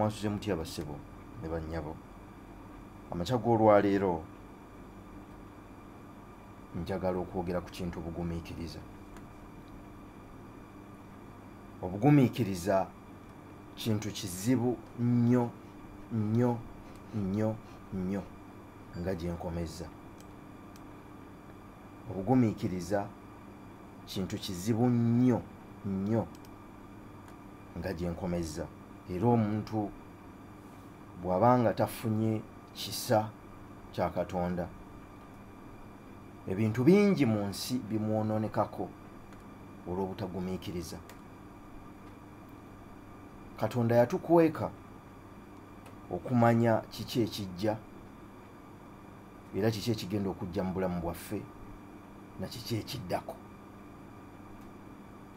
mwasuze muti abasebo ne bannyabo amakya g'olwaleero njagala okwogera ku kintu obugumiikiriza obugumiikiriza kintu kizibu nnyo nnyo nnyo nnyo nga gye nkomezza obugumiikiriza kintu kizibu nnyo nnyo nga gye nkomezza era omuntu bw'aba nga tafunye kisa kya katonda ebintu bingi mu nsi bimwonoonekako olw'obutagumiikiriza katonda yatukweka okumanya kiki ekijja era kiki ekigenda okujja mu bulamu bwaffe na kiki ekiddako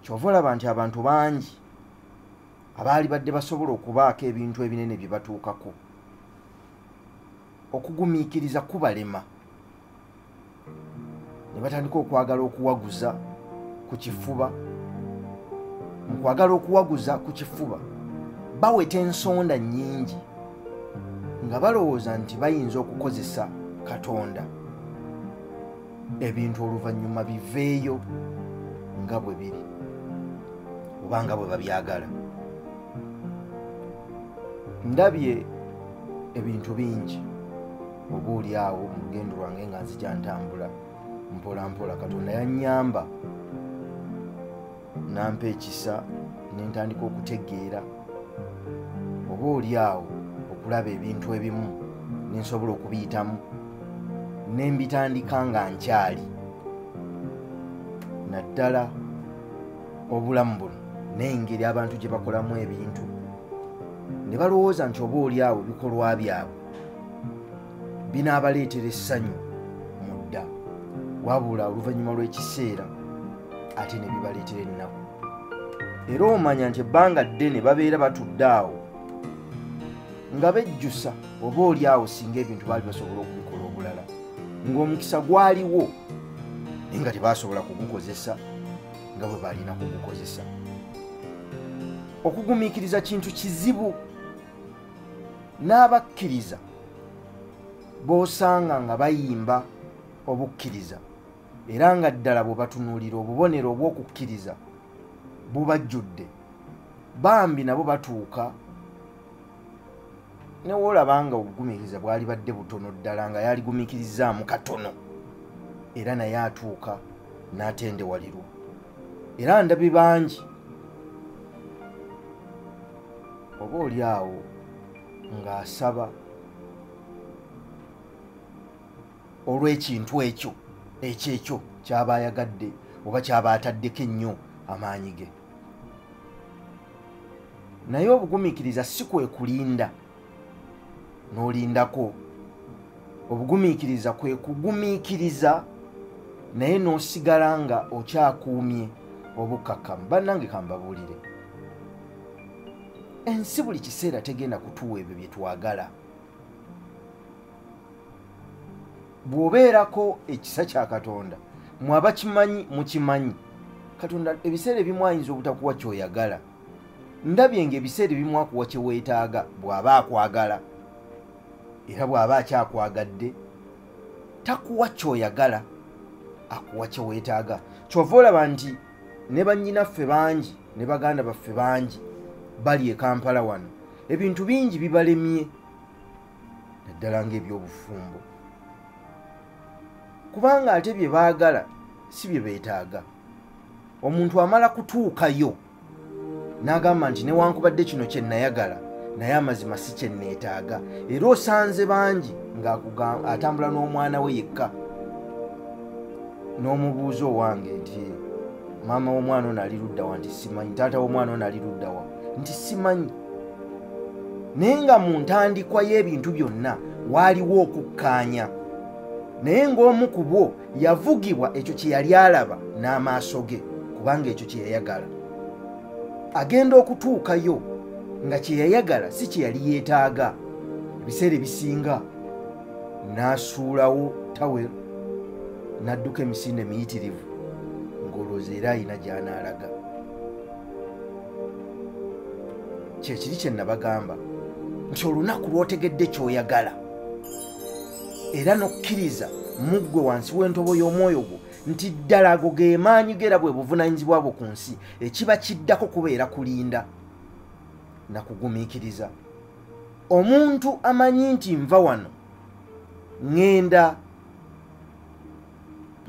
kyova olaba nti abantu bangi abaali badde basobola okubaako ebintu ebinene bye batuukako okugumiikiriza kubalema ne batandika okwagala okuwaguza ku kifuba mu kwagala okuwaguza ku kifuba baweta ensonda nnyingi nga balowooza nti bayinza okukozesa katonda ebintu oluvannyuma biveeyo nga bwe biri oba nga bwe babyagala ndabye ebintu bingi oba oli awo mu lugendo lwange nga nzija ntambula mpolampola katonda yannyamba nampa ekisa nentandika okutegeera oba oli awo okulaba ebintu ebimu nensobola okubiyitamu nembitandika nga nkyali naddala obulamu buno nengeri abantu gye bakolamu ebintu ne balowooza nti oba oli awo bikolwa byabwe binaabaleetera essanyu mu dda wabula oluvannyuma lw'ekiseera ate ne bibaleetera ennaku era omanya nti ebbanga ddene babeera batudde awo nga bejjusa oba oli awo singa ebintu baali basobola okubikola obulala ng'omukisa gwaliwo naye nga tebasobola kugukozesa nga bwe balina kugukozesa okugumiikiriza kintu kizibu n'abakkiriza b'osanga nga bayimba obukkiriza era nga ddala bwe batunuulira obubonero obw'okukkiriza bubajjudde bambi nabo batuuka newoolaba nga obugumiikiriza bwali badde butono ddala nga yaligumiikirizaamu katono era naye atuuka n'atendewalirwa era ndabi bangi oba oli awo ng'asaba olw'ekintu ekyo ekyekyo kyaba ayagadde oba kyaba ataddeko ennyo amaanyi ge naye obugumiikiriza si kwe kulinda n'olindako obugumiikiriza kwe kugumiikiriza naye n'osigala nga okyakuumye obukkakkamu bannange kambabuulire ensi buli kiseera tegenda kutuwa ebyo bye twagala bw'obeerako ekisa kya katonda mwe abakimanyi mukimanyi katonda ebiseera ebimu ayinza obutakuwa kyoyagala ndabye ng'ebiseera ebimu akuwa kye weetaaga bw'aba akwagala era bw'aba akyakwagadde takuwa ky'oyagala akuwa kye weetaaga kyova olaba nti ne bannyinaffe bangi ne baganda baffe bangi bali e kampala wano ebintu bingi bibalemye naddala ng'ebyobufumbo kubanga ate bye baagala si bye beetaaga omuntu amala kutuukayo n'agamba nti newankubadde kino kye nayagala naye amazima si kye neetaaga era osanze bangi ng'atambula n'omwana we yekka n'omubuuza owange nti maama w'omwana ono ali luddawa nti simanyi taata w'omwana ono ali luddawa nti simanyi naye nga mu ntandikwa y'ebintu byonna waaliwo okukkaanya naye ng'omu ku bwo yavugibwa ekyo kye yali alaba n'amaaso ge kubanga ekyo kye yayagala agenda okutuukayo nga kye yayagala si kye yali yeetaaga ebiseera ebisinga n'asuulawo tawel n'adduka emisinde miyitirivu ng'olwooza era alina gy'anaalaga kyekiri kye nabagamba nti olunaku lw'otegedde ky'oyagala era n'okukkiriza mu ggwe wansi w'entobo y'omwoyo gwo nti ddala ago ge maanyi geera bwe buvunaanyizibwa bwo ku nsi ekiba kiddako kubeera kulinda na kugumiikiriza omuntu amanyi nti nva wano ŋŋenda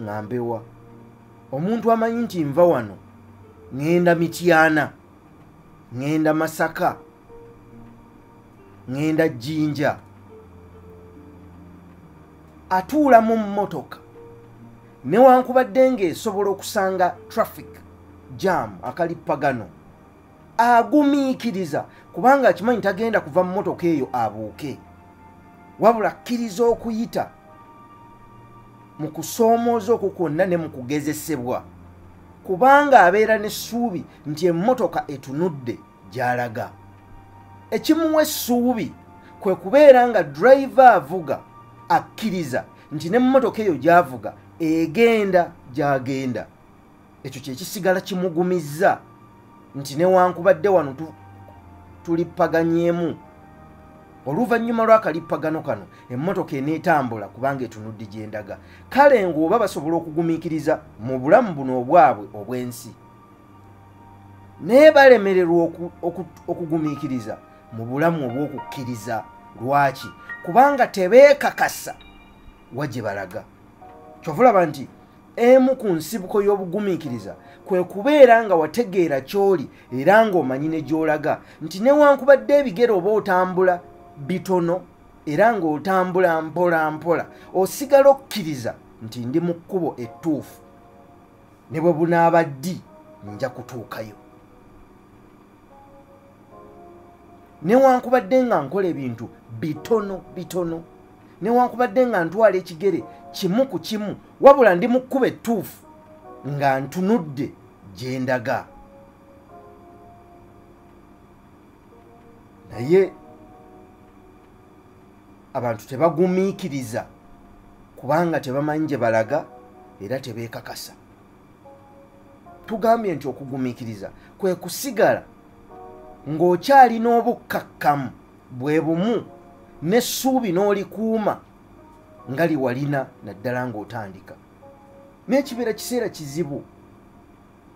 ŋambewa omuntu amanyi nti nva wano ŋŋenda mityana ŋŋenda masaka ŋŋenda jjinja atuula mu mmotoka newankubadde ng'esobola okusanga traffic jam akalippagano agumiikiriza kubanga akimanyi tagenda kuva mu motoka eyo abuuke wabula akkiriza okuyita mu kusoomooza okwo kwonna ne mu kugezesebwa kubanga abeera n'essuubi nti emmotoka etunudde gy'alaga ekimuwa essuubi kwe kubeera nga driver avuga akkiriza nti n'emmotoka eyo gy'avuga egenda gy'agenda ekyo kyekisigala kimugumizza nti newankubadde wano tulippaganyemu oluvannyuma lw'akalippagano kano emmotoka eneetambula kubanga etunudde gyendaga kale ng'oba basobola okugumiikiriza mu bulamu buno obwabwe obw'ensi naye balemererwa okugumiikiriza mu bulamu obw'okukkiriza lwaki kubanga tebeekakasa wa gye balaga kyova olaba nti emu ku nsibuko y'obugumiikiriza kwe kubeera nga wategeera ky'oli era ng'omanyi ne gy'olaga nti newankubadde ebigere oba otambula bitono era ng'otambula mpola mpola osigala okkiriza nti ndi mu kkubo ettuufu ne bwe bunaaba ddi nja kutuukayo newankubadde nga nkola ebintu bitono bitono newankubadde nga ntwala ekigere kimu ku kimu wabula ndi mu kkuba ettuufu nga ntunudde gye ndaga naye abantu tebagumiikiriza kubanga tebamanyi gye balaga era tebeekakasa tugambye nti okugumiikiriza kwe kusigala ng'okyalina obukkakkamu bwe bumu n'essuubi n'olikuuma nga liwalina naddala ng'otandika naye kibeera kiseera kizibu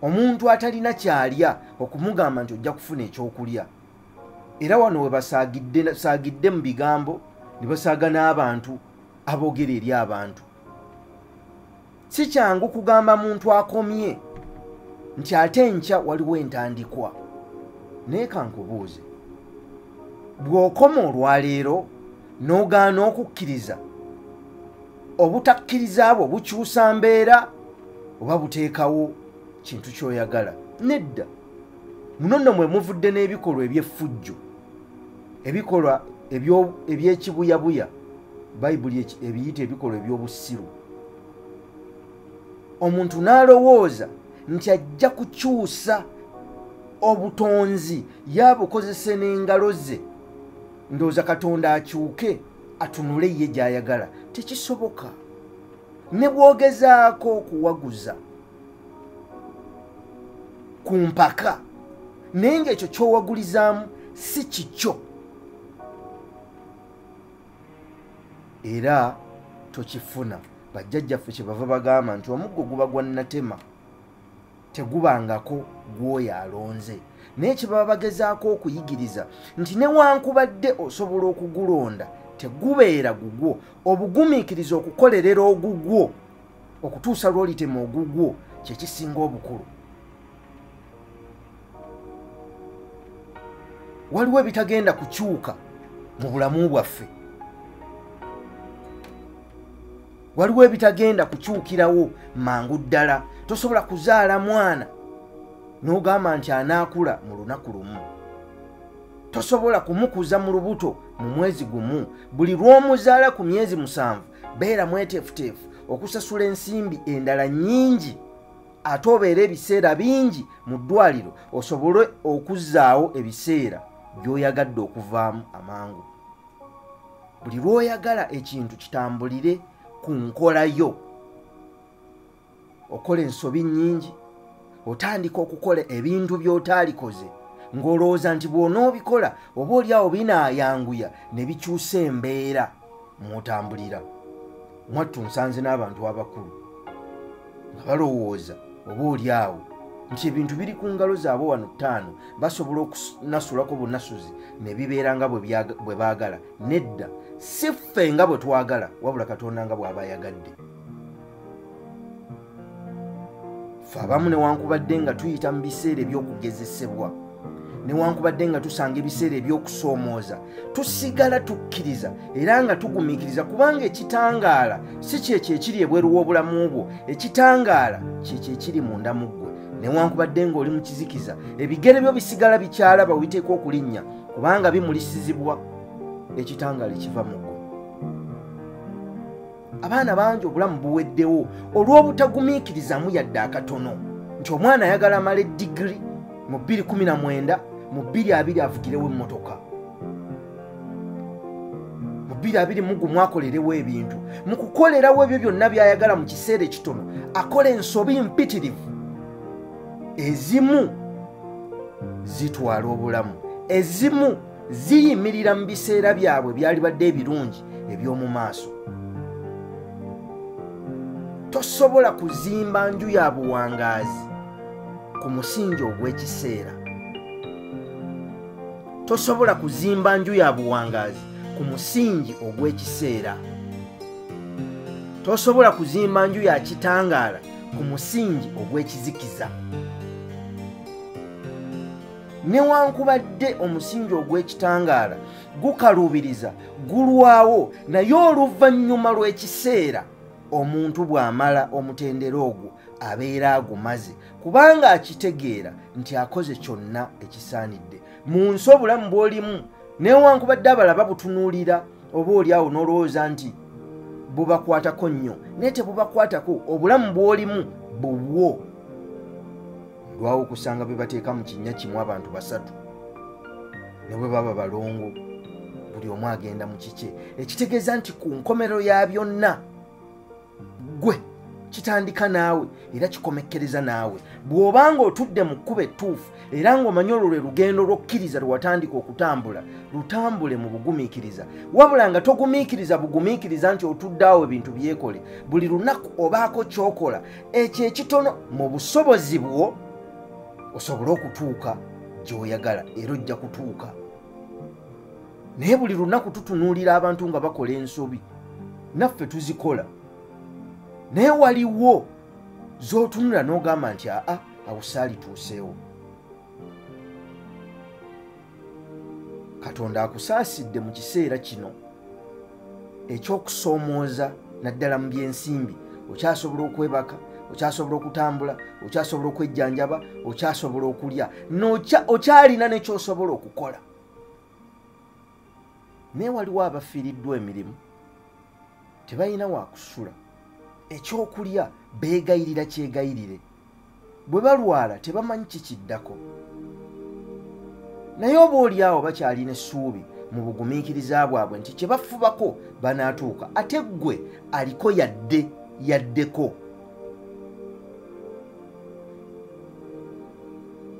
omuntu atalina kyalya okumugamba nti ojja kufuna ekyokulya era wano webasaagidde mu bigambo ne basaaga n'abantu aboogera eri abantu si kyangu kugamba muntu akomye nti ate enkya waliwo entandikwa naye kankubuuze bw'okoma olwaleero n'ogaana okukkiriza obutakkiriza bwo bukyusa mbeera oba buteekawo kintu kyoyagala nedda muno nno mwe muvudde n'ebikolwa eby'effujjo ebikolwa ebyekibuyabuya bayibuli ebiyita ebikolwa eby'obusiru omuntu n'alowooza nti ajja kukyusa obutonzi yabukozese n'engalo ze ndowooza katonda akyuke atunule ye gyayagala tekisoboka ne bwogezaako okuwaguza ku mpaka naye ngaekyo kyowagulizaamu si kikyo era tokifuna bajjajjaffe kyebava bagamba nti omuggo guba gwa natema tegubangako gw'oyo alonze naye kyebaba bagezaako okuyigiriza nti newankubadde osobola okugulonda tegubeera gugwo obugumiikiriza okukolerera ogugwo okutuusa lwolitema ogugwo kyekisinga obukulu waliwo ebitagenda kukyuka mu bulamu bwaffe waliwo ebitagenda kukyukirawo mangu ddala tosobola kuzaala mwana n'ogamba nti anaakula mu lunaku lumu tosobola kumukuza mu lubuto mu mwezi gumu buli lw'omuzaala ku myezi musanvu beera mweteefuteefu okusasula ensimbi endala nnyingi ate obeera ebiseera bingi mu ddwaliro osobole okuzzaawo ebiseera by'oyagadde okuvaamu amangu buli lwoyagala ekintu kitambulire ku nkola yo okola ensobi nyingi otandika okukola ebintu byotaalikoze ng'olowooza nti bw'onoobikola oba oli awo binaayanguya ne bikyusa embeera mw'otambulira mwattu nsanze n'abantu abakulu nga balowooza oba oli awo nti ebintu biri ku ngalo zaabwe wano ttaano basobola okunasulako bunasuzi ne bibeera nga bwe baagala nedda si ffe nga bwe twagala wabula katonda nga bw'aba ayagadde fe abamu newankubadde nga tuyita mu biseera eby'okugezesebwa newankubadde nga tusanga ebiseera eby'okusoomooza tusigala tukkiriza era nga tugumiikiriza kubanga ekitangaala si kyekyo ekiri ebweru w'obulamu bwo ekitangaala kyekyo ekiri munda mu ggwe newankubadde ng'oli mu kizikiza ebigere byo bisigala bikyalaba witeeka okulinnya kubanga bimulisizibwa ekitangaala ekiva mu ggwe abaana bangi obulamu buweddewo olw'obutagumiikirizamu yadde akatono nti omwana ayagala amala eddigiri mu 219 mu 22 avugirewo emmotoka mu 221 mwakolerewo ebintu mu kukolerawo ebyo byonna by'ayagala mu kiseera ekitono akola ensobi mpitirivu ezimu zitwala obulamu ezimu ziyimirira mu biseera byabwe byalibadde ebirungi eby'omu maaso tosobola kuzimba nju ya buwangaazi ku musingi ogw'ekiseera tosobola kuzimba nju ya buwangaazi ku musingi ogw'ekiseera tosobola kuzimba nju ya kitangaala ku musingi ogw'ekizikiza newankubadde omusingi ogw'ekitangaala gukaluubiriza gulwawo naye oluvannyuma lw'ekiseera omuntu bw'amala omutendera ogwo abeera agumaze kubanga akitegeera nti akoze kyonna ekisaanidde mu nsi obulamu bw'olimu newankubadde abalaba butunuulira oba oli awo n'olowooza nti bubakwatako nnyo naye tebubakwatako obulamu bw'olimu bubwo lwawo okusanga bwe bateeka mu kinnya kimu abantu basatu ne bwe baba balongo buli omu agenda mu kikye ekitegeeza nti ku nkomerero ya byonna gwe kitandika naawe era kikomekkereza naawe bw'oba nga otudde mu kkuba ettuufu era ng'omanyi olwo lwe lugendo lw'okkiriza lwe watandika okutambula lutambule mu bugumiikiriza wabula nga togumiikiriza bugumiikiriza nti otudde awo ebintu byekole buli lunaku obaako ky'okola ekyo ekitono mu busobozi bwo osobole okutuuka gyoyagala era ojja kutuuka naye buli lunaku tutunuulira abantu nga bakola ensobi naffe tuzikola naye waliwo z'otunula n'ogamba nti aa awusaali tuuseewo katonda akusaasidde mu kiseera kino ekyokusoomooza naddala mu byensimbi okyasobola okwebaka okyasobola okutambula okyasobola okwejjanjaba okyasobola okulya okyalina nekyosobola okukola naye waliwo abafiiriddwa emirimu tebalina wakusula ekyokulya beegayirira kyegayirire bwe balwala tebamanyi kikiddako naye oba oli awo bakyalina essuubi mu bugumiikiriza bwabwe nti kye bafubako banaatuuka ate ggwe aliko yadde yaddeko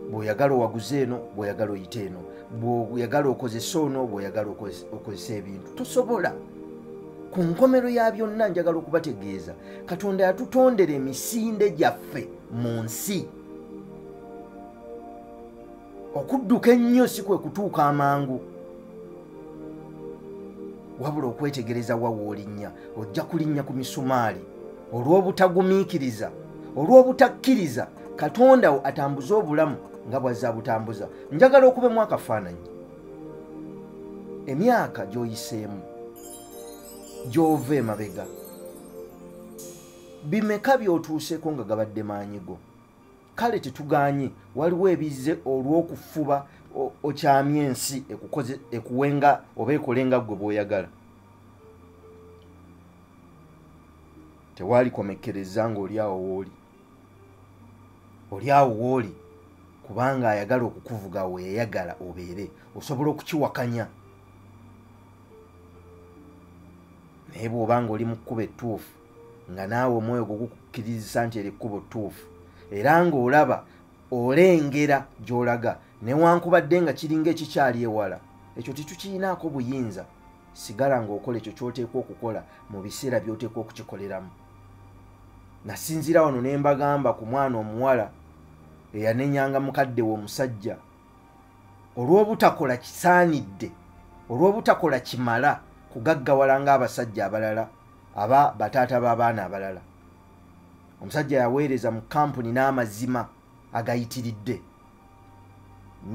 bw'oyagala owaguze eno bw'oyagala oyite eno bw'oyagala okozesa ono bw'oyagala okozesa ebintu tosobola ku nkomero ya byonna njagala okubategeeza katonda yatutondera emisinde gyaffe mu nsi okudduka ennyo si kwe kutuuka amangu wabula okwetegereza wa woolinnya ojja kulinnya ku misumaali olw'obutagumiikiriza olw'obutakkiriza katonda wo atambuze obulamu nga bwazza abutambuza njagala okubemu akafaananyi emyaka gy'oyiseemu gy'ova emabega bimeka by'otuuseeko nga gabadde maanyi go kale tetuganye waliwo ebizze olw'okufuba okyamya ensi ekuwenga oba ekolenga gwe bwoyagala tewalikomekkereza ngaoli awo wooli oli awo wooli kubanga ayagala okukuvuga weyayagala obeere osobola okukiwakanya naye bw'oba ng'oli mu kkuba ettuufu nga naawe omwoyo gwo gukukkirizisa nti eri kkuba ttuufu era ng'olaba olengera gy'olaga newankubadde nga kiringa ekikyali ewala ekyo tetukiyinaako buyinza sigala ng'okola ekyo ky'oteekwa okukola mu biseera by'oteekwa okukikoleramu nasinziira wano ne mbagamba ku mwana omuwala eyanenyanga mukadde we omusajja olw'obutakola kisaanidde olw'obutakola kimala kugaggawala ng'abasajja abalala aba bataata b'abaana abalala omusajja yaweereza mu kampuni n'amazima agayitiridde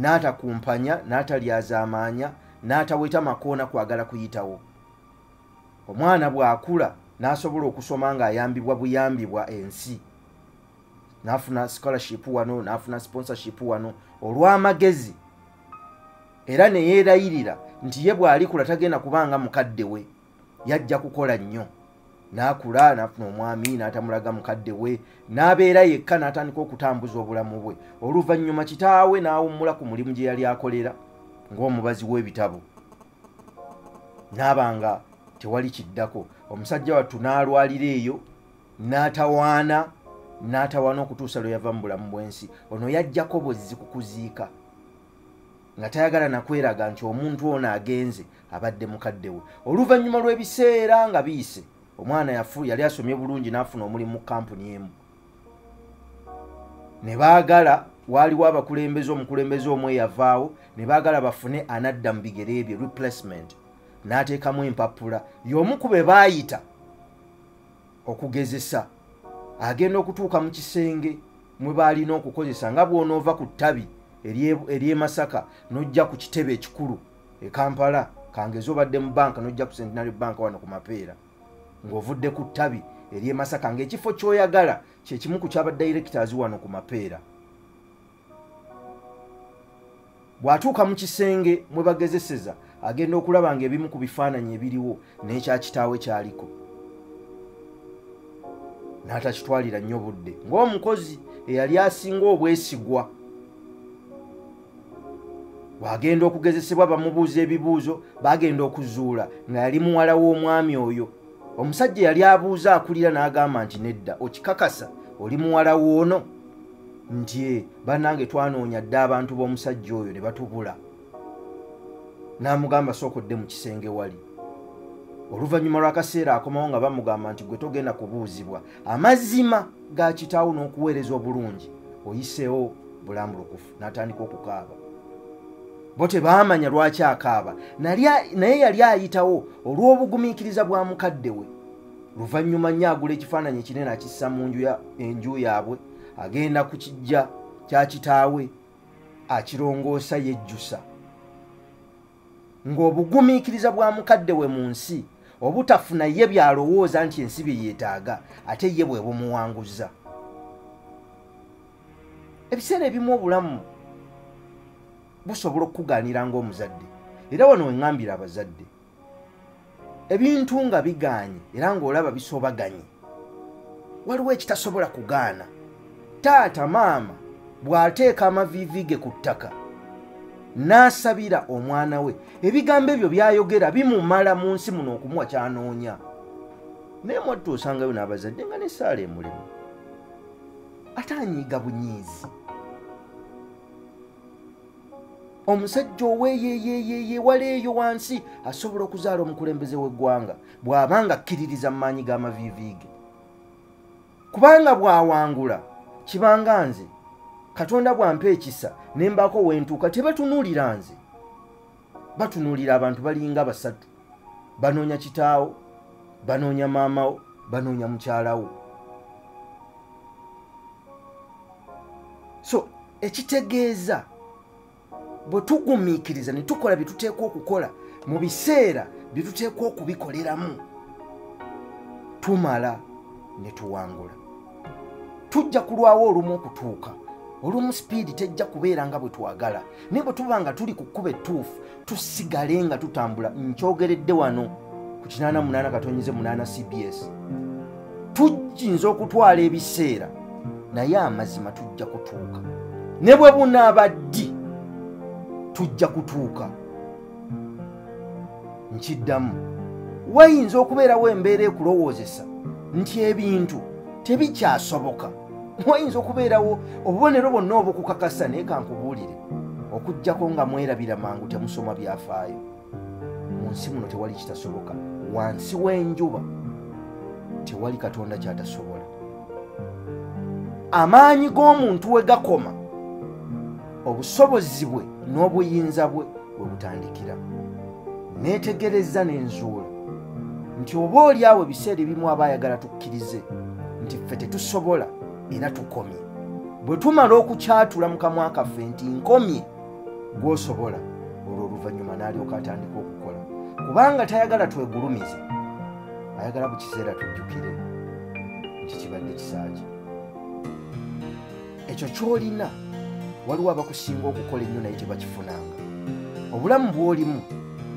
n'atakumpanya n'atalyazaamaanya n'ataweta makoona kwagala kuyitawo omwana bw'akula n'asobola okusoma ng'ayambibwa buyambibwa ensi nafuna scholarship wano nafuna sponsorship wano olw'amagezi era neyeerayirira nti ye bw'alikula tagenda kubanga mukadde we yajja kukola nnyo n'akula nafuna omwami n'atamulaga mukadde we n'abeera yekka n'atandika okutambuza obulamu bwe oluvannyuma kitaawe n'awummula ku mulimu gye yali akolera ng'omubazi w'ebitabo n'aba nga tewali kiddako omusajja wattu n'alwalira eyo n'atawaana n'atawaana okutuusa lwe yava mu bulamu bw'ensi ono yajjako bwezzi ku kuziika nga tayagala nakweraga nti omuntu ono agenze abadde mukadde we oluvannyuma lw'ebiseera nga biyise omwana yafu yali asomye bulungi n'afuna omulimu mu kampuni emu ne baagala waaliwo abakulembeze omukulembeze omu eyavaawo ne baagala bafune anadda mu bigere ebyo replacement n'ateekamu empapula y'omu ku be baayita okugezesa agenda okutuuka mu kisenge mwe baalina okukozesa nga bw'onoova ku ttabi ery'e masaka n'ojja ku kitebe ekikulu e kampala kangezi obadde mu banka n'ojja ku centenary bank wano ku mapeera ng'ovudde ku ttabi ery'e masaka ng'ekifo ky'oyagala kyekimu ku kyaba directors wano ku mapeera bw'atuuka mu kisenge mwe bagezeseza agenda okulaba nga ebimu ku bifaananyi ebiriwo n'ekya kitaawe kyaliko n'atakitwalira nnyo budde ng'omukozi eyali asinga obwesigwa bw'agenda okugezesebwa bamubuuza ebibuuzo bagenda okuzuula nga yali muwala w'omwami oyo omusajja yali abuuza akulira n'agamba nti nedda okikakasa oli muwala woono nti e banange twanoonya dde abantu b'omusajja oyo ne batubula n'amugamba sooka odde mu kisenge wali oluvannyuma lw'akaseera akomawo nga bamugamba nti gwe togenda kubuuzibwa amazima ga kitaawo n'okuweereza obulungi oyiseewo bulambulukufu n'atandika okukaaba bo tebaamanya lwaki akaaba naye yali ayitawo olw'obugumiikiriza bwa mukadde we luvannyuma nnyo agula ekifaananyi ekinene akissa mu nju enju yaabwe agenda ku kijja kya kitaawe akirongoosa yejjusa ng'obugumiikiriza bwa mukadde we mu nsi obutafuna ye byalowooza nti ensi bye yeetaaga ate ye bwe bumuwanguzza ebiseera ebimu obulamu busobola okukugaanira ng'omuzadde era wano weŋambira abazadde ebintu nga bigaanyi era ng'olaba bisobaganyi waliwo ekitasobola kugaana taata maama bw'ateeka amaviivi ge ku ttaka n'asabira omwana we ebigambo ebyo by'ayogera bimumala mu nsi muno okumuwa kyanoonya naye mwattu osangayo n'abazadde nga nesaala emulimu ate anyiiga bunyiizi omusajja oweyeyeeyeye wala eyo wansi asobola okuzaala omukulembeze w'eggwanga bw'aba nga akkiririza mu maanyi g'amaviiviige kubanga bw'awangula kibanga nze katonda bw'ampa ekisa ne mbaako wentuuka tebatunulira nze batunuulira abantu balinga basatu banoonya kitaawo banoonya maamawo banoonya mukyalawo so ekitegeeza bwe tugumiikiriza ne tukola bye tuteekwa okukola mu biseera bye tuteekwa okubikoleramu tumala ne tuwangula tujja kulwawo olumu okutuuka olumu sipiidi tejja kubeera nga bwe twagala naye bwe tuba nga tuli ku kkuba ettuufu tusigale nga tutambula nkyogeredde wano ku 88 katonyize 8 cbs tujinza okutwala ebiseera naye amazima tujja kutuuka ne bwe bunaaba ddi tujja kutuuka nkiddamu wayinza okubeerawo embeera ekulowoozesa nti ebintu tebikyasoboka wayinza okubeerawo obubonero bwonna obukukakasa naye kankubuulire okujjako nga mwerabira mangu temusoma byafaayo mu nsi muno tewali kitasoboka wansi w'enjuba tewali katonda kyatasobola amaanyi g'omuntu we gakoma obusobozi bwe n'obuyinza bwe we butandikira neetegereza n'enzuula nti oba oli awo ebiseera ebimu aba ayagala tukkirize nti ffe tetusobola era tukomye bwe tumala okukyatula mu kamwa kaffe nti nkomye gwosobola olwo oluvannyuma n'alyoka atandika okukola kubanga tayagala twegulumize ayagala bu kiseera tujjukire nti kibadde kisaaki ekyo kyolina waliwo abakusinga okukola ennyo naye tebakifunanga obulamu bwolimu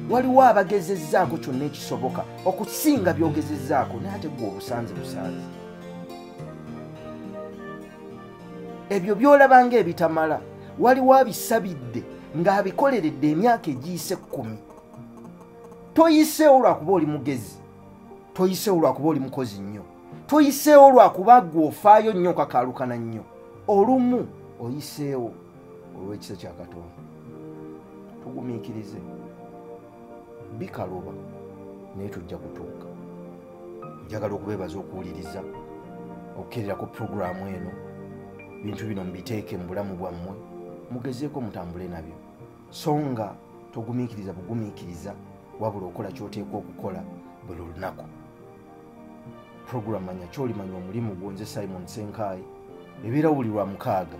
waliwo abagezezzaako kyonna ekisoboka okusinga byogezezzaako naye ate gwe obusanze busanze ebyo byolaba nga ebitamala waliwo abisabidde ng'abikoleredde emyaka egiyise kkumi toyiseewo lwakuba oli mugezi toyiseewo lwakuba oli mukozi nnyo toyiseewo lwakuba gwe ofaayo nnyo okakaalukana nnyo olumu oyiseewo olw'ekisa kya katonda tugumiikirize bikaloba naye tujja kutuuka njagala okubeebaza okuwuliriza okukerera ku puroguramu eno bintu bino mubiteeke mu bulamu bwammwe mugezeeko mutambule nabyo so nga togumiikiriza bugumiikiriza wabula okola kyoteekwa okukola buli lunaku puroguramu manya kyolimanya omulimu gwo nze simon senkaayi ebeera wuli lwa mukaaga